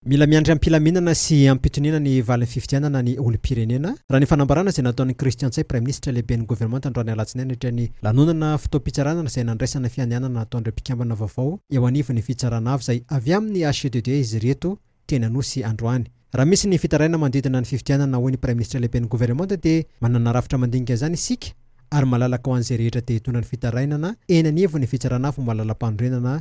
Mila miandry am-pilaminana sy am-pitoniana ny valin'ny fifidianana ny olom-pirenena, raha ny fanambarana izay nataon'i Christian Ntsay, praiminisitra lehiben'ny governemanta androany alatsinainy nandritra ny lanonana fotoam-pitsarana izay nandraisana ny fianianana nataon'ireo mpikambana vaovao eo anivon'ny fitsarana avo izay avy amin'ny HCDD izy ireto teny Anosy androany. Raha misy ny fitarainana manodidina ny fifidianana, hoy ny praiminisitra lehiben'ny governemanta dia manana rafitra mandinika izany isika ary malalaka ho an'izay rehetra te hitondra ny fitarainana eny anivon'ny fitsarana avo malala-panorenana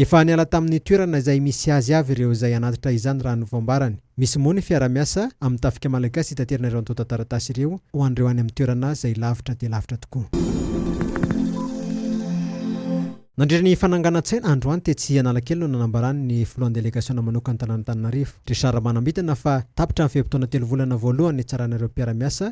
Efa niala tamin'ny toerana izay misy azy avy ireo izay hanatitra izany raha ny voambarany. Misy moa ny fiara-miasa amin'ny tafika malagasy hitaterana ireo antontan-taratasy ireo ho an'ireo any amin'ny toerana izay lavitra dia lavitra tokoa. Nandritra ny fananganan-tsaina androany tetsy Analakely no nanambarany ny filohan'ny delegasiona manokan'ny tanàn'Antananarivo, Richard Ramanambitana fa tapitra ny fe-potoana telo volana voalohany nitsarana ireo mpiara-miasa,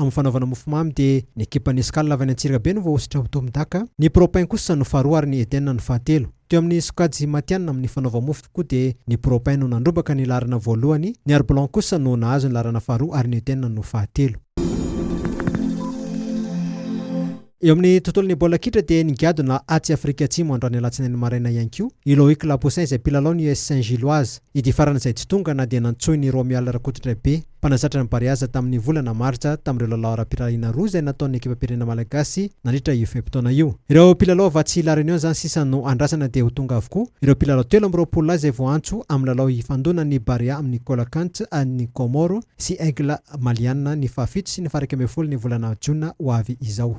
Amin'ny fanaovana mofomamy dia ny ekipan'ny Escale avy any Antsirabe no voahosotra ho Tom Daka, ny Propin kosa no faharoa ary ny Eden no fahatelo. Teo amin'ny sokajy matihanina amin'ny fanaova-mofo koa dia ny Propin no nandrombaka ny laharana voalohany, ny Arblon kosa no nahazo ny laharana faharoa ary ny Eden no fahatelo. Eo amin'ny tontolon'ny baolina kitra dia nigadona atsy Afrika Atsimo androany alatsinainy maraina ihany koa i Loïc Lapoussin izay mpilalao ny US Saint Gilloise. Ity farany izay tsy tonga na dia nantsoin' i Romuald Rakotondraibe, mpanazatra ny Bariaza tamin'ny volana martsa tamin'ireo lalao ara-pirahariana roa izay nataon'ny ekipam-pirenena malagasy nandritra io fe-potoana io. Ireo mpilalao avy atsy La Réunion izany sisa no andrasana dia ho tonga avokoa ireo mpilalao telo amby roapolo lahy izay voaantso amin'ny lalao hifandonan'ny Barea amin'ny Colacants an'ny Comores sy Aigle Maliana ny fahafito sy ny faha-iraika ambin'ny folo ny volana jona ho avy izao.